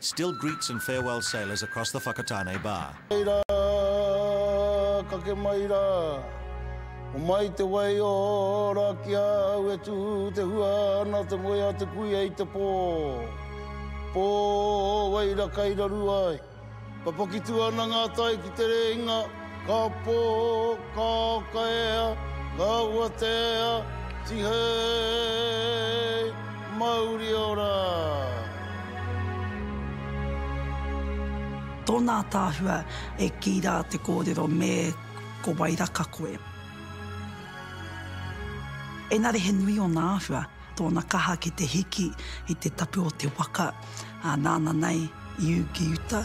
Still greets and farewells sailors across the Whakatane bar. Mai rā, kake mai rā. Homai te wai ora ki a au e tū te hua ana te moe a te kuia i te pō. Pō wai ra kai raru ai. Papakitu ana ngā tai ki te rēinga, ka pō, ka kaea, ka watea, tihei! Mauri ora! Tōna ataahua e kī rā te kōrero me ko wairaka koe. Engari he nui ōna āhua, tōna kaha ki te hiki i te tapu o te waka. ā, nāna nei i ū ki uta.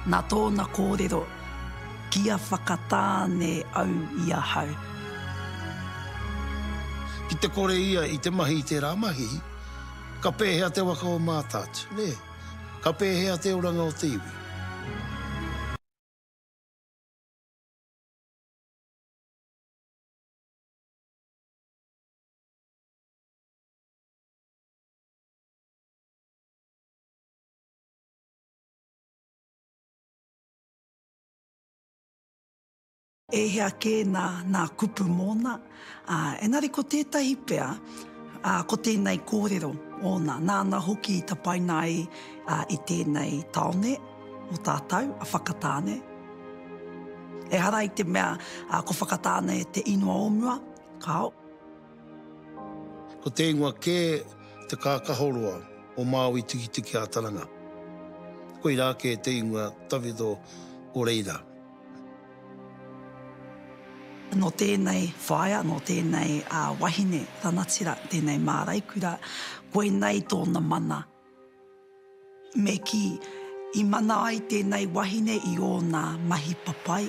Nā tōna kōrero, Kia whakatāne au i ahau. Ki te kore ia i te mahi i tērā mahi, ka pēhea te waka o Mātaatua, nē? Ka pēhea te oranga o te iwi? e hea kē nā, nā kupu mōna, ā, engari ko tētahi pea, ā, ko tēnei kōrero ōna, nāna hoki i tapaina ai i tēnei tāone o tātou, a Whakatāne. Ehara i te mea ko Whakatāne te ingoa o mua, kāo. Ko te ingoa kē te kākahoroa o Māui Tikitiki a Taranga. Koirā kē te ingoa tawhito o reira. Nō tēnei whaea, nō tēnei wahine ranatira, tēnei māraikura, koinei tōna mana. Me kī, i mana ai tēnei wahine i ōna mahi papai,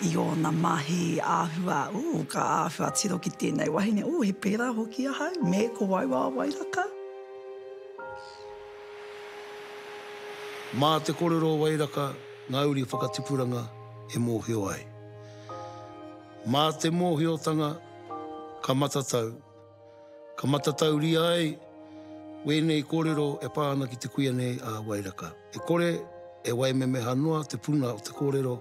i ōna mahi āhua, ū, ka āhua tiro ki tēnei wahine, ū, he pērā hoki ahau, me ko wau a Wairaka. Mā te kōrero o Wairaka ngā uri whakatipuranga e mōhio ai. Mā te mōhiotanga ka matatau. Ka matatauria ai wēnei kōrero e pā ana ki te kuia nei a Wairaka. E kore e waimemeha noa te puna o te kōrero,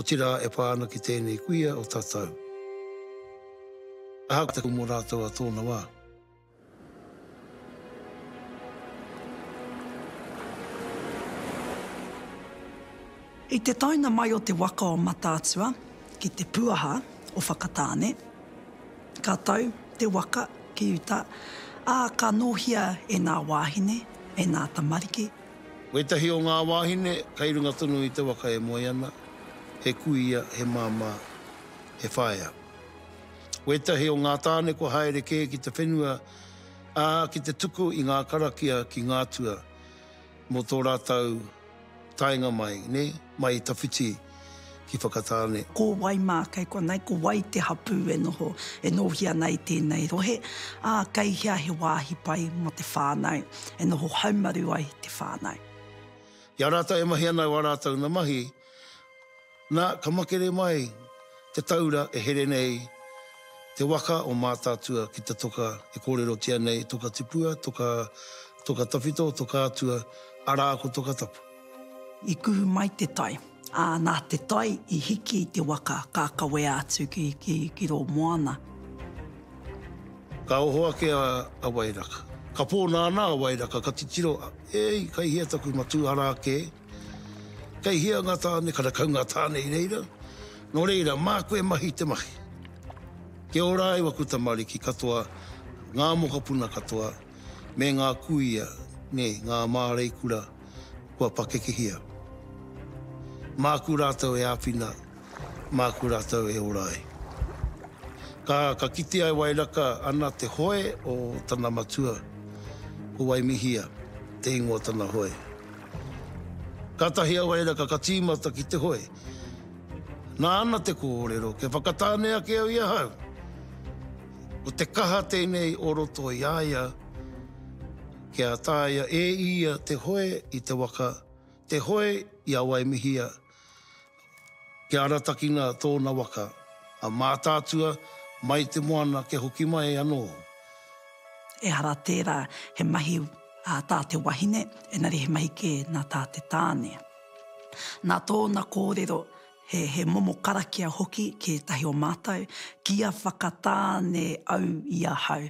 otirā e pā ana ki tēnei kuia o tatau. Ahakoa te kumu rātou a tōna wā. I te taenga mai o te waka o Mataatua ki te puaha o Whakatāne, ka tau te waka ki uta, ā, ka nōhia e ngā wāhine, e ngā tamariki. Wētahi o ngā wāhine kei runga tonu i te waka e moe ana, he kuia, he māmā, he whaea. Wētahi o ngā tāne kua haere kē ki te whenua, ā, ki te tuku i ngā karakia ki ngā tua. Mō tō rātou taenga mai, nē, mai i tawhiti ki Whakatāne. Ko wai mā kei konei, ko wai te hapū e noho, e nōhia ana i tēnei rohe, ā, kei hea he wāhi pai mō te whānau e noho haumaru ai te whānau. I a rātou e mahi ana o ā rātou na mahi. Na, ka makere mai te taura e here nei te waka o Mātaatua ki te toka e kōrerotia nei, Toka Tipua, Toka, Toka Tawhito, Toka Atua, arā ko Toka Tapu. I kuhu mai te tai, ā, nā te tai i hiki i te waka ka kawea atu ki, ki, ki rō moana. Ka oho ake a, a Wairaka. Ka pō nāna a Wairaka, ka titiro, Ēi, kai hea taku matū, arā kē. Kei hea nga tane karakau nga tane i reira? No reira, maku e mahi te mahi. Kia ora ai waku tamariki katoa, nga mokopuna katoa, me nga kuia, ne nga marei kura kua pakekehia. Maku ratou e apina, maku ratou e ora ai. Ka, ka kitea e Wairaka ana te hoe o tana matua, ko Waimihia te ingoa tana hoe. Kātahi a Wairaka ka tīmata ki te hoe. Nāna te kōrero, kia whakatāne ake au i ahau. Ko te kaha tēnei o roto i a ia, kia taea e ia te hoe i te waka, te hoe i a Waimihia, Kia aratakina tōna waka a Mātaatua mai te moana kia hoki mai anō. Ehara tērā he mahi ā tā te wahine, engari he mahi kē nā tā te tāne. Nā tōna kōrero, he he momo karakia hoki ki ētahi o mātou, Kia whakatāne au i ahau.